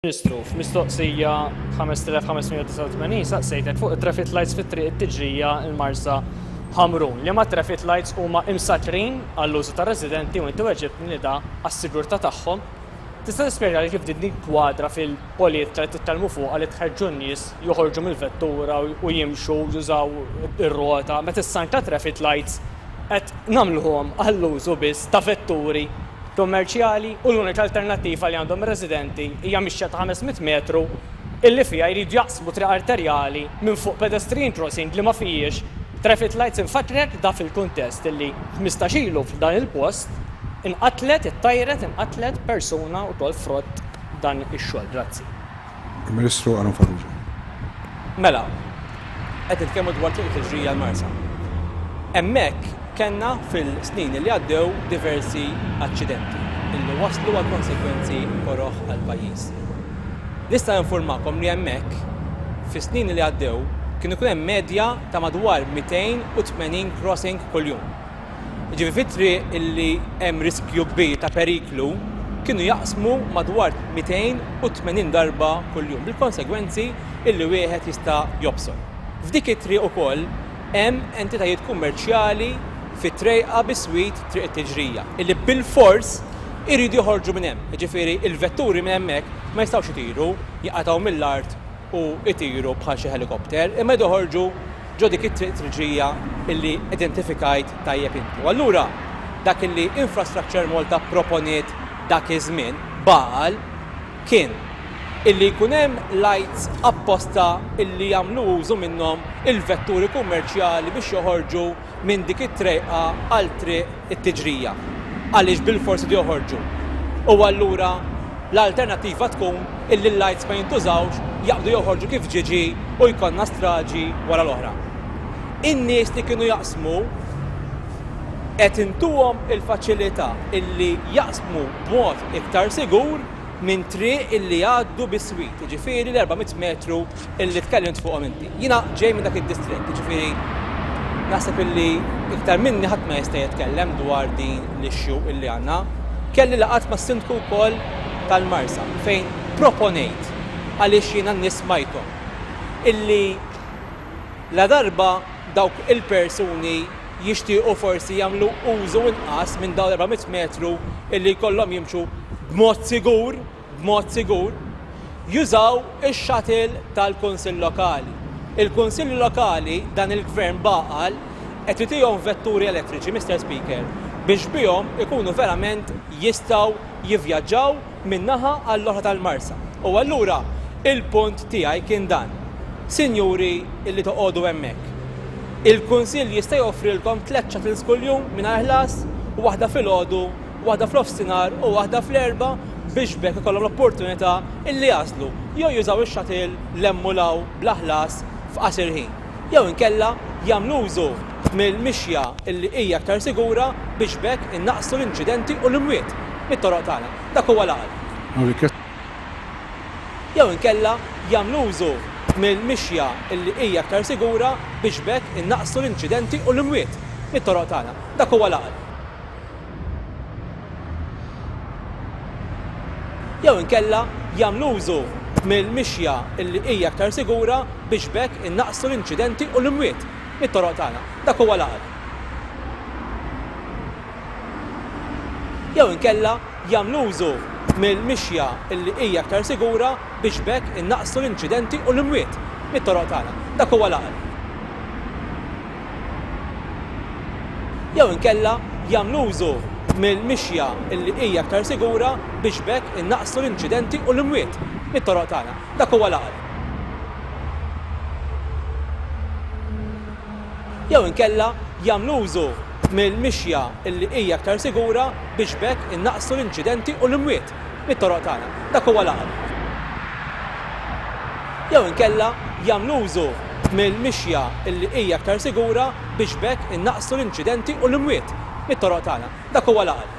Ministru, f'mistoqsija 5589 saqsejtek fuq it-traffic lights fit-triq it-Tiġrija il-Marsa Ħamrun. Liema traffic lights huma imsattrin għall-użu tar-residenti u inti weġibtni li da għas-sigurtà tagħhom. Tista' tispjegħli kif din tinkwadra fil-politka li titkellmu fuqha li tħeġġu n-nies joħorġu mill-vettura u jimxu jużaw ir-rota meta s-sign tat-traffic lights qed nagħmluhom għall-użu biss ta' vetturi kummerċjali u l-unika alternattiva li għandhom ir-residenti hija mixja ta' 500 metru illi fiha jridu jaqsmu triq arterjali minn fuq pedestrian crossing li ma fihiex traffic lights. Infakkrek da fil-kuntest illi ħmistax ilu f'dan il-post inqatlet, ittajret, inqatlet persuna wkoll frott dan ix-xogħol. Grazzi. Il-Ministru Aaron Farrugia. Mela, qed nitkellmu dwar Triq il-Ħiġrija l-Marsa. Hemmhekk kellna fil-snin li għaddew diversi aċċidenti illi wasslu għal konsegwenzi koroh għall-pajjiż. Nista' ninfurmakom li hemmhekk fis-snin li għaddew kien ikun hemm medja ta' madwar 280 crossing kuljum. jiġifieri fit-triq illi hemm riskju kbir ta' periklu, kienu jaqsmu madwar 280 darba kuljum, bil-konsegwenzi illi wieħed jista' jobsor. F'dik it-triq ukoll hemm entitajiet kummerċjali fit-trejqa biswit Triq it-Tiġrija, illi bilfors iridu joħorġu minn hemm, jiġifieri l-vetturi minn hemmhekk ma jistgħux itiru, jinqatgħu mill-art, u jtiru bħal xi ħelikopter imma joħorġu ġo dik it-triq triġija illi identifikajt tajjeb inti. U allura dak illi Infrastructure Malta pproponiet dak iż-żmien, bagħal, kien illi jkun hemm lights apposta illi jagħmlu użu minnhom il-vetturi kummerċjali biex joħorġu minn dik it-trejqa għal triq it-tiġrija għaliex bilfors idu joħorġu u allura l-alternattiva tkun illi l-lights ma jintużawx, jaqbdu joħorġu kif ġiġi u jkollna straġi wara l-oħra. In-nies li kienu jaqsmu qed intuhom il-faċilità illi jaqsmu b'mod iktar sigur minn triq illi jgħaddu biswit, jiġifieri l-400 metru illi tkellimt fuqhom inti. Jiena ġej minn dak id-distrett, jiġifieri naħseb illi iktar minni ħadd ma jista' jitkellem dwar din l-issue illi għandna. Kelli laqgħat mas-Sindku wkoll tal-Marsa fejn proponejt għaliex jiena n-nies smajthom illi ladarba dawk il-persuni jixtiequ forsi jagħmlu użu inqas minn dawn l-400 metru illi jkollhom jimxu b'mod sigur, b'mod sigur, jużaw ix-shuttle tal-Kunsill Lokali. Il-Kunsilli Lokali, dan il-Gvern b'għaqal, qed itihom vetturi elettriċi, Mister Speaker, biex bihom ikunu verament jistgħu jivvjaġġaw minn naħa għall-oħra tal-Marsa. U allura il-punt tiegħi kien dan, Sinjuri li toqogħdu hemmhekk, il-Kunsill jista' joffrilkom tliet shuttles kuljum mingħajr ħlas, waħda filgħodu, waħda f'nofsinhar u waħda fl-Erbgħa biex b'hekk ikollhom l-opportunità illi jagħżlu jew jużaw ix-shuttle 'l hemm u 'l hawn bla ħlas f'qasir ħin jew inkella jagħmlu użu mill-mixja illi hija aktar sigura biex b'hekk innaqqsu l-inċidenti u l-imwiet mit-toroq tagħna. Dak huwa l-għaqal. Jew inkella jagħmlu użu mill-mixja illi hija aktar sigura biex b'hekk innaqqsu l-inċidenti u l-imwiet mit-toroq tagħna. Dak huwa l-għaqal. jew inkella jagħmlu użu mill-mixja li hija aktar sigura biex b'hekk innaqqsu l-inċidenti u l-imwiet mit-toroq tagħna. Dak huwa l-għaqal. Jew inkella jagħmlu użu mill-mixja li hija aktar sigura biex b'hekk innaqqsu l-inċidenti u l-imwiet mit-toroq tagħna. Dak huwa l-għaqal. jew inkella jagħmlu użu mill-mixja li hija aktar sigura biex b'hekk innaqqsu l-inċidenti u l-imwiet mit-toroq tagħna. Dak huwa l-għaqli. Jew inkella jagħmlu użu mill-mixja li hija aktar sigura biex b'hekk innaqqsu l-inċidenti u l-imwiet. mit-toroq tagħna. Dak huwa l-għaqli. Jew inkella jagħmlu użu mill-mixja li hija aktar sigura biex b'hekk innaqqsu l-inċidenti u l-imwiet mit-toroq tagħna. Dak huwa l-għaqli.